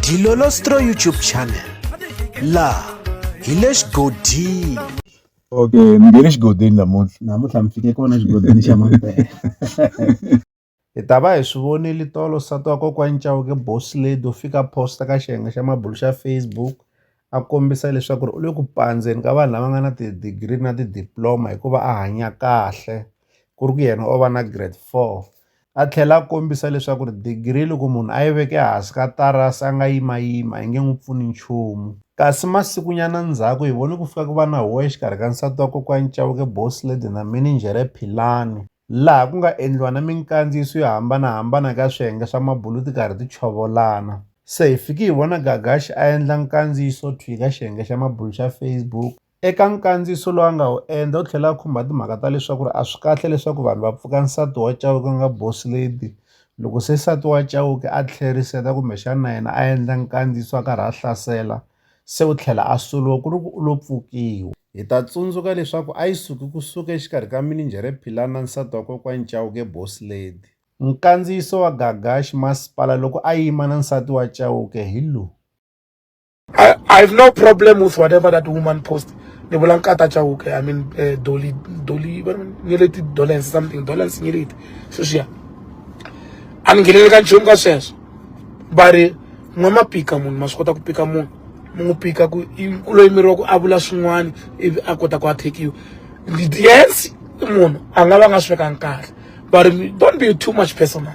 Dilolostro YouTube channel la hi le xigodini okay mi nge le xigodini namuntlha namuntlha mi fike kona xigodini xa mampela hi ta va hi swi vonile tolo nsati wa kokwani chauke boss lady u fika posta ka xiyenge xa mabulu xa facebook a kombisa leswaku ri u le ku pandzeni ka vanhu lava nga na ti-degree na ti-diploma hikuva a hanya kahle ku ri ku yena o va na grade four a tlhela a kombisa leswaku ri digiri loko munhu a yi veke ehansi ka tarasi a nga yimayima a yi nge n'wi pfuni nchumu kasi masikunyana ndzhaku hi vone ku fika ku va na huwa exikarhi ka nsati wa kokwani Chauke Boss Lady na mininjhere Philani laha ku nga endliwa na minkandziyiso yo hambanahambana ka swiyenge swa mabulu ti karhi ti chovolana se hi fiki hi vona Gagashi a endla nkandziyiso thwi ka xiyenge xa mabulu xa Facebook Eka nkandziyiso lowu a nga wu endla u tlhela a khumba timhaka ta leswaku a swi kahle leswaku vanhu va pfuka nsati wa Chauke ku nga boss lady loko se nsati wa Chauke a tlheriseta kumbexana na yena a endla nkandziyiso a karhi a hlasela se u tlhela a solo ku ri ku u lo pfukiwa. Hi ta tsundzuka leswaku a yi suki kusuka exikarhi ka mininjhere Philani na nsati wa kokwani Chauke boss lady. Nkandziyiso wa Gagashi masipala loko a yima na nsati wa Chauke hi lowu. I, I have no problem with whatever that woman post ni vula nkata chauke i mean uh, eh, doli doli ni leti dolence something dolence ni leti sweswiya a ni nghenele ka nchumu ka sweswo va ri n'wa ma pika munhu ma swi kota ku pika munhu mi n'wi pika ku ku loyi miri wa ku a vula swin'wana ivi a kota ku a thekiwa yes munhu a nga va nga swi vekanga kahle but don't be too much personal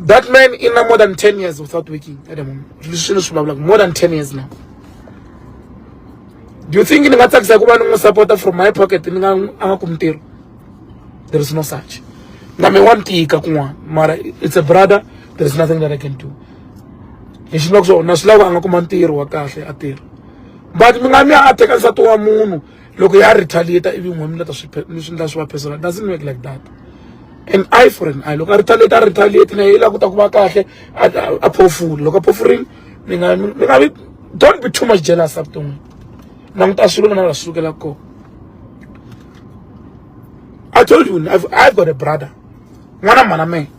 that man in more than 10 years without working at the moment more than 10 years now do you think ni nga tsakisa ku va ni n'wi supporta from my pocket ni nga a nga kumi ntirho there is no such na me wa ni tika kun'wana mara it's a brother there is nothing that i can do hi xi loko swo na swi lava a nga kuma ntirho wa kahle a tirha but mi nga mi ya a teka nsati wa munhu loko ya retaliate ivi n'we mi leta swi mi swi ndla swi va personal doesn't work like that an eye for an eye loko a retaliate a retaliate na yi la ku ta ku va kahle a phofula loko a phofurile mi nga mi nga vi don't be too much jealous evuton'wini languta swilo mina la sukela ko i told you I've, i've got a brother n'wana mhana mehe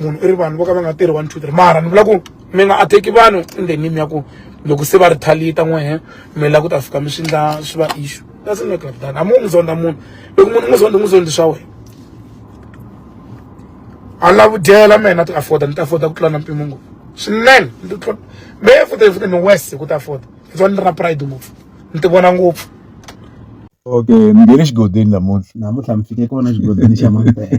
munhu i ri vanhu vo ka va nga tirhi one two three mara ni vula ku mi nga atheki vanhu endhenini ya ku loko se va ri thalita n'wehe mi la ku ta fika mi swi ndla swi va issue doesn't make like that a mu n'wi zonda munhu loko munhu n'wi zonda n'wi zondi swa wena a lava dyela mina ti afforda ni ta afforda ku tlula na mpimo ngopfu swinene ni tlula me futa futa ni west ku ta afforda hi tsona ni ra pride ngopfu ni ti vona ngopfu okay mi nghene xigodini namuntlha namuntlha mi fike kona xigodini xa mampela